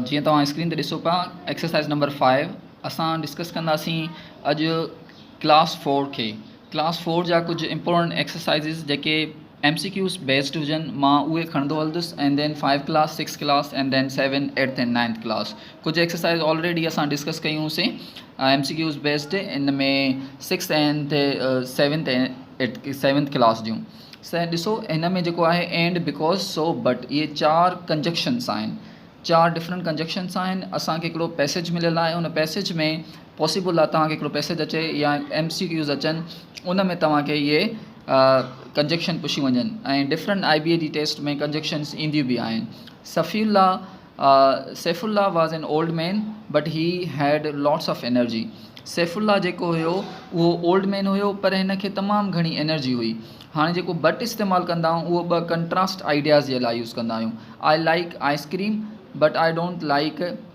جيئن توهان اسڪرين تي ڏسو پيا ايڪسرسائز نمبر فائيو اسان ڊسڪس ڪنداسين اڄ ڪلاس فور کي ڪلاس فور جا ڪجهه امپورٽنٽ ايڪسرسائزز جيڪي ايم سي ڪيوز بيسڊ هجن مان اهي کڻندو هلندس and then five class six class and then seven eight and ninth class ڪجهه ايڪسرسائز آلريڊي اسان ڊسڪس ڪيون هون سين ايم سي ڪيوز بيسڊ ان ۾ six and seventh eight seventh class جون سين ڏسو هن ۾ جيڪو آهي اينڊ بڪوز سو بٽ اهي چار ڪنجڪشنس آهن چار ڊفرنٽ ڪنجڪشنس آهن اسانکي هڪڙو پيسج مليل آهي ان پيسج ۾ پاسيبل آهي توهان کي هڪڙو پيسيج اچي يا ايم سي ڪيوز اچن ان ۾ توهان کي اهي ڪنجيڪشن پڇيون وڃن ۽ ڊفرنٽ آئي بي اي جي ٽيسٽ ۾ ڪنجيڪشنس اينديون به آهن Safi Ullah Saif Ullah was an old man but he had lots of energy Saif Ullah جيڪو هيو اهو اولڊ مين هيو پر هن کي تمام گهڻي انرجي هئي هاڻي جيڪو بٽ استعمال ڪندا آهيون اهو ٻه ڪنٽراسٽ آئيڊياز جي لاء يوز ڪندا آهيون I like ice cream but I don't like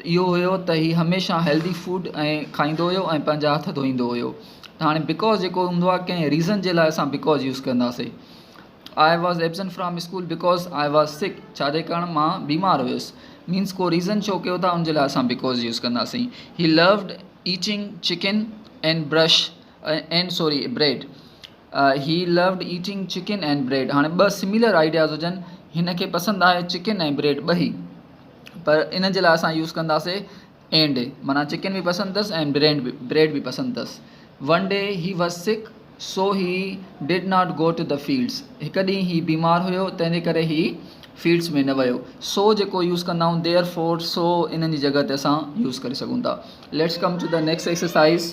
ته اهو هيو ته هي هميشه هيلڌي فوڊ کائيندو هيو ۽ پنهنجا هٿ ڌوئيندو هيو ته هاڻي بڪوز جيڪو هوندو آهي ڪنهن ريزن جي لاء اسان بڪوز يوز ڪنداسي I was absent from school because I was sick ڇاجي ڪرڻ مان بيمار هيس مينس ڪو ريزن شو ڪيو ٿا ان جي لاء اسان بڪوز يوز ڪنداسين he loved eating chicken and brush and sorry bread He loved eating chicken and bread هاڻي ٻه سميلر آئيڊياز هجن هن کي پسند آهي چڪن ۽ بريڊ ٻئي پر ان جي لاء اسان يوز ڪنداسي اينڊ مانا چڪن به پسند اٿس ۽ برينڊ به بريڊ به پسند اٿس one day he was sick so he did not go to the fields هڪ ڏينهن هي بيمار هيو تنهن جي ڪري هي فيلڊس ۾ نه ويو سو جيڪو يوز ڪندا آهيون ديئر فور سو انهن جي جڳھ تي اسان يوز ڪري سگھون ٿا let's come to the next exercise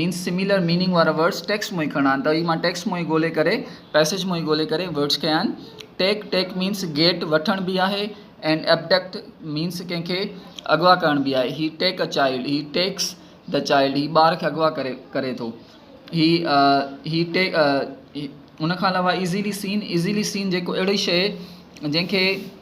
means similar meaning وارا ورڊز ٽيڪسٽ مون ئي کڻا آهن ته هي مان ٽيڪسٽ مون ئي ڳولي ڪري پئسيج مون ئي ڳولي ڪري ورڊز کنيا آهن ٽيڪ ٽيڪ مينس گيٽ وٺڻ به آهي اينڊ ابڊڪٽ مينس ڪنهن کي اغوا ڪرڻ به آهي he take a child he takes the child هي ٻار کي اغوا ڪري ڪري ٿو هي هي ٽيڪ ان کان علاوه ايزيلي سين ايزيلي سين جيڪو اهڙي شيء جنهن کي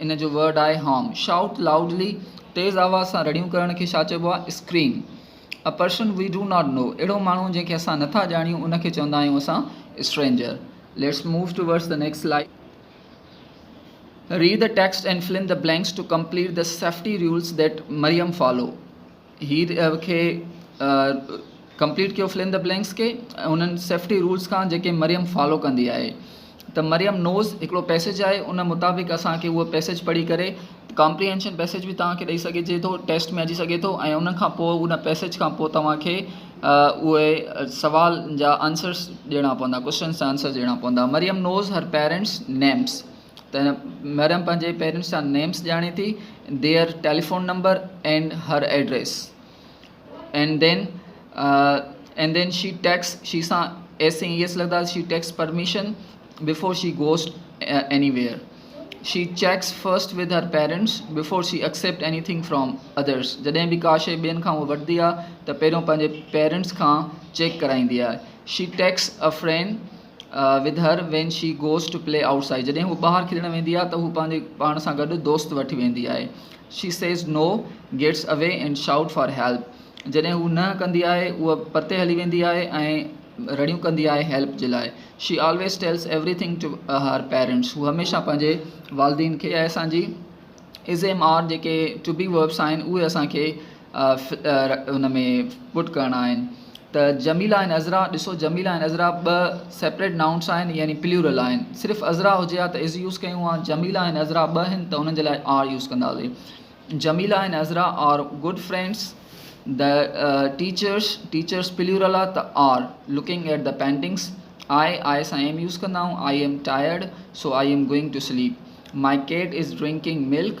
ان جو ورڊ آهي هارم. شائوٽ لائوڊلي، تيز آواز سان رڙيون ڪرڻ کي ڇا چئبو آهي؟ Scream. A person we do not know, اهڙو ماڻهو جنهن کي اسان نٿا ڄاڻيون ان کي چوندا آهيون اسان stranger. Let's move towards the next slide. Read the text and fill in the blanks to complete the safety rules that Maryam follow. هي کي ڪمپليٽ ڪيو فل ان دي بلينڪس کي انهن سيفٽي رولس کان جيڪي مريم فالو ڪندي آهي ته مريم نوز هڪڙو پيسيج آهي ان مطابق اسان کي اهو پيسيج پڙهي ڪري ڪامپريهينشن پيسيج به توهان کي ڏئي سگهجي ٿو ٽيسٽ ۾ اچي سگهي ٿو ۽ ان کان پوء ان پيسيج کان پوء توهان کي اهي سوال جا آنسرس ڏيڻا پوندا ڪوشچنس جا آنسرس ڏيڻا پوندا Maryam knows her parents names ته مريم پنهنجي پيرنٽس جا نيمس ڄاڻي ٿي their telephone number and her address and then and then she takes she سان ايس اي ايس لڳندا she takes permission before she goes anywhere she checks first with her parents before she accept anything from others جڏهن به ڪا شي ٻين کان هو وٺندي آهي ته پهريون پنهنجي پيرنٽس کان چيڪ ڪرائيندي آهي she takes a friend with her when she goes to play outside جڏهن هوء ٻاهر کلڻ ويندي آهي ته هوء پنهنجي پاڻ سان گڏ دوست وٺي ويندي آهي she says no, gets away and shout for help جڏهن هوء نه ڪندي آهي هوء پرتي هلي ويندي آهي ۽ رڙيون ڪندي آهي هيلپ جي لاء she always tells every thing to her parents هوء هميشه پنهنجي والدين کي ۽ اسان جي ازيم آر جيڪي ٽو بي وربس آهن اهي اسان کي ان ۾ پٽ ڪرڻا آهن ته جميلا ۽ عذرا ڏسو جميلا ۽ عذرا ٻه سيپريٽ نائونس آهن يعني پليورل آهن صرف عذرا هجي ها ته از يوز ڪيون ها جميلا ۽ عذرا ٻه آهن ته انهن جي لاء آر يوز ڪنداسين Jamila ۽ Azra are good friends the teachers teachers plural آ ته are looking at the paintings I I سان ايم يوز ڪندا آئون I am tired so I am going to sleep my cat is drinking milk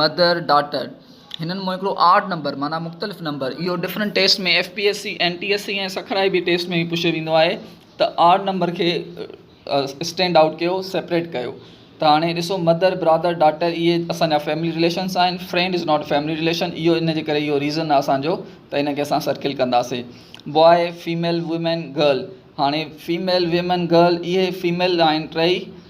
mother daughter هنن مون هڪڙو odd number معنيٰ مختلف نمبر اهو different test ۾ F P S C N T S C ۽ Sukkur I B test ۾ به پڇيو ويندو آهي ته آڊ نمبر کي اسٽينڊ آئوٽ ڪيو سيپريٽ ڪيو ته هاڻي ڏسو مدر برادر ڊاٽر اهي اسان جا فيملي رليشنس آهن friend is not family relation اهو ان جي ڪري اهو ريزن آهي اسانجو ته ان کي اسان سرڪل ڪنداسين بواء فيميل وومين گرل هاڻي فيميل ويمن گرل اهي فيميل آهن ٽئي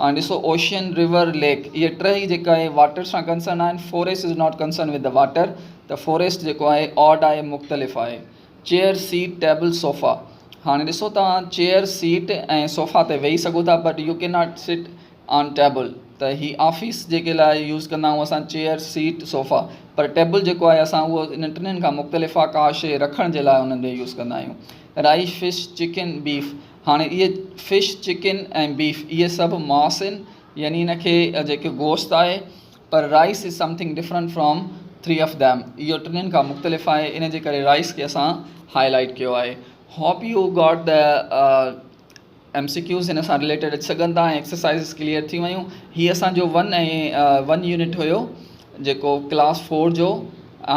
هاڻي ڏسو اوشين ريور ليڪ اهي ٽهي جيڪا آهي واٽر سان ڪنسرن آهن forest is not concern with water ته فوريسٽ جيڪو آهي آڊ آهي مختلف آهي چيئر سيٽ ٽيبل صوفا هاڻي ڏسو توهان چيئر سيٽ ۽ صوفا تي ويهي سگهو ٿا but you can not sit on table ته هي آفيس جيڪي لاء يوز ڪندا آهيون اسان چيئر سيٽ صوفا پر ٽيبل جيڪو آهي اسان اهو انهن ٽنهن کان مختلف آهي ڪا شيء رکڻ جي لاء انهن جو يوز ڪندا آهيون رائيش فش چڪن بيف هاڻي اهي فش چڪن ۽ بيف اهي سڀ ماس آهن يعني ان کي جيڪي گوشت آهي پر rice is something different from three of them اهو ٽنهن کان مختلف آهي ان جي ڪري رائيس کي اسان هائي لائيٽ ڪيو آهي hope you got the M C Qs هن سان رليٽيڊ اچي سگهن ٿا ۽ ايڪسرسائزز ڪليئر ٿي ويون هي اسانجو ون ۽ ون يونٽ هيو جيڪو ڪلاس فور جو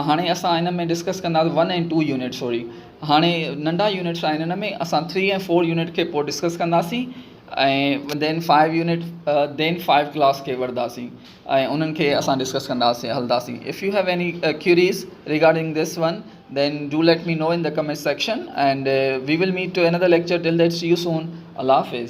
هاڻي اسان هن ۾ ڊسڪس ڪندا ون ۽ ٽو يونٽ سوري هاڻي ننڍا يونٽس آهن ان ۾ اسان ٿري ۽ فور يونٽ کي پوء ڊسڪس ڪنداسين ۽ then five unit then five class کي وڙنداسين ۽ انهن کي اسان ڊسڪس ڪنداسين هلنداسين if you have any queries regarding this one then do let me know in the comment section and we will meet to any the lecture till that see you soan Allah Hafiz